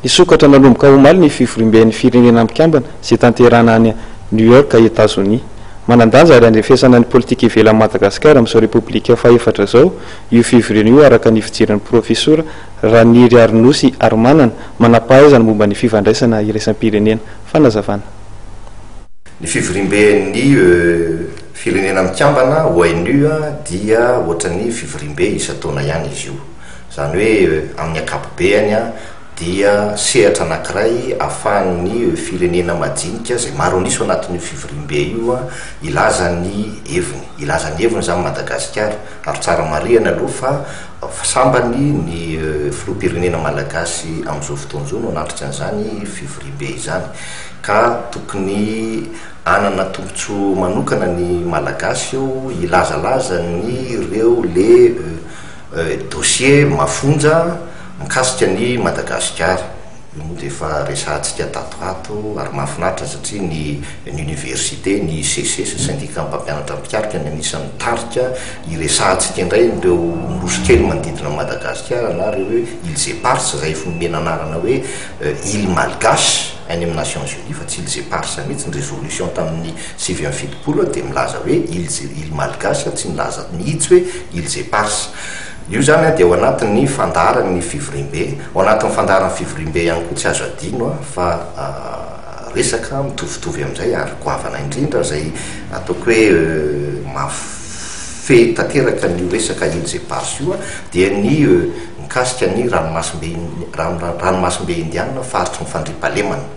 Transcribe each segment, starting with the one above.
Hisokatra manomboka omaly ny fivoriamben'ny Firenena Mikambana izay tanterahina any New York, Etazonia. Manan-danja ary handrefesana ny politika ivelan'i Madagasikara amin'izao Repoblika fahefatra izao io fivoriana io araka ny fijerin'ny Profesora Raniriarinosy Harimanana, manam-pahaizana momba ny fifandraisana iraisam-pirenena. Fanazavana. Ny fivoriamben'ny Firenena Mikambana, ONU, dia ohatran'ny fivoriambe isan-taona ihany izy io. Izany hoe, amin'ny ankapobeany, dia sehatra anankiray ahafahan'ny firenena majinika, izay maro an'isa ao anatin'io fivoriambe io, hilaza ny heviny. Hilaza ny heviny izany Madagasikara. Ary tsara marihana aloha fa sambany ny filoham-pirenena malagasy amin'izao fotoana izao no hanatrika an'izany fivoriambe izany. Ka tokony hanana tombontsoa manokana ny Malagasy eo hilazalaza ny ireo le. Dossier mafonja mikasika an'i Madagasikara. Io moa dia efa resahantsika tato ato ary mahafinaritra satria ny Université, ny SECES, Syndicat Mpampianatra Mpitarika, ny anisan'ny nitarika hiresahantsika indray ireo nosy kely manodidina an'i Madagasikara na ireo hoe Îles Éparses izay efa nomena anarana hoe Îles Malgaches any amin'ny Nations Unies fa tsy Îles Éparses mihitsy ny résolution tamin'ny Sivy amby fitopolo dia milaza hoe Îles, îles malgaches, tsy milaza mihitsy hoe îles éparses. Io izany dia ao anatin'ny fandaharan'ny fivoriambe. Ao anatin'ny fandaharan'ny fivoriambe ihany koa, tsy azo adino fa resaka mitovitovy amin'izay ary goavana indrindra izay ataoko hoe mahafehy tanteraka an'io resaka îles éparses io dia ny mikasika ny ranomasimbe, ranomasimbe indianina faritry ny fandriampahalemana.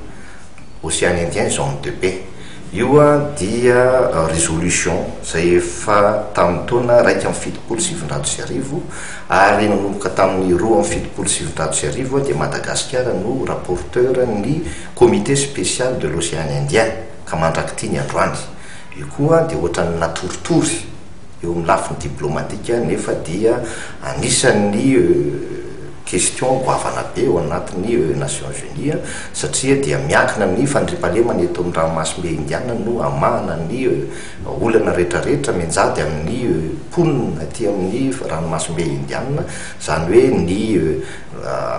Ocean Indien, Zone de Paix. Io dia résolution izay efa tamin'ny taona iraika amby fitopolo sy sivinjato sy arivo ary nanomboka tamin'ny roa amby fitopolo sy sivinjato sy arivo dia Madagasikara no rapporteur ny comité spécial de l'Ocean Indien ka mandrak'ity ny androany. Io koa dia ohatran'ny natoritory eo amin'ny lafiny diplomatika nefa dia anisan'ny Question goavana be eo anatin'ny Nations Unies satria dia miankina ny fandriampahalemana eto amin'ny ranomasimbe Indiana no hamahana ny olana rehetrarehetra mianjady amin'ny mponina aty amin'ny ranomasimbe Indiana, izany hoe ny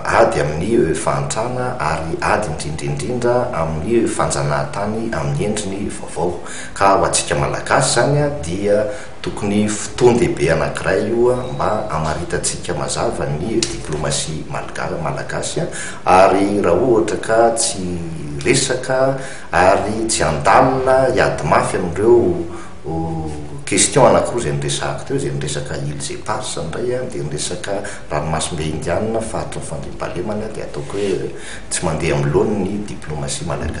ady amin'ny fahantrana ary ady indrindra indrindra amin'ny fanjanahantany amin'ny endriny vaovao. Ka ho antsika Malagasy izany dia. Tokony fotoan-dehibe anankiray io mba hamaritantsika mazava ny diplomasia malgara, malagasy, ary raha ohatra ka tsy resaka ary tsy handalina hiady mafy amin'ireo question anankiroa izay noresahako teo, izay ny resaka îles éparses indray dia ny resaka ranomasimbe indianina, faritry ny fandriampahalemana, dia ataoko hoe tsy mandeha amin'ny laoniny ny diplomasia malagasy.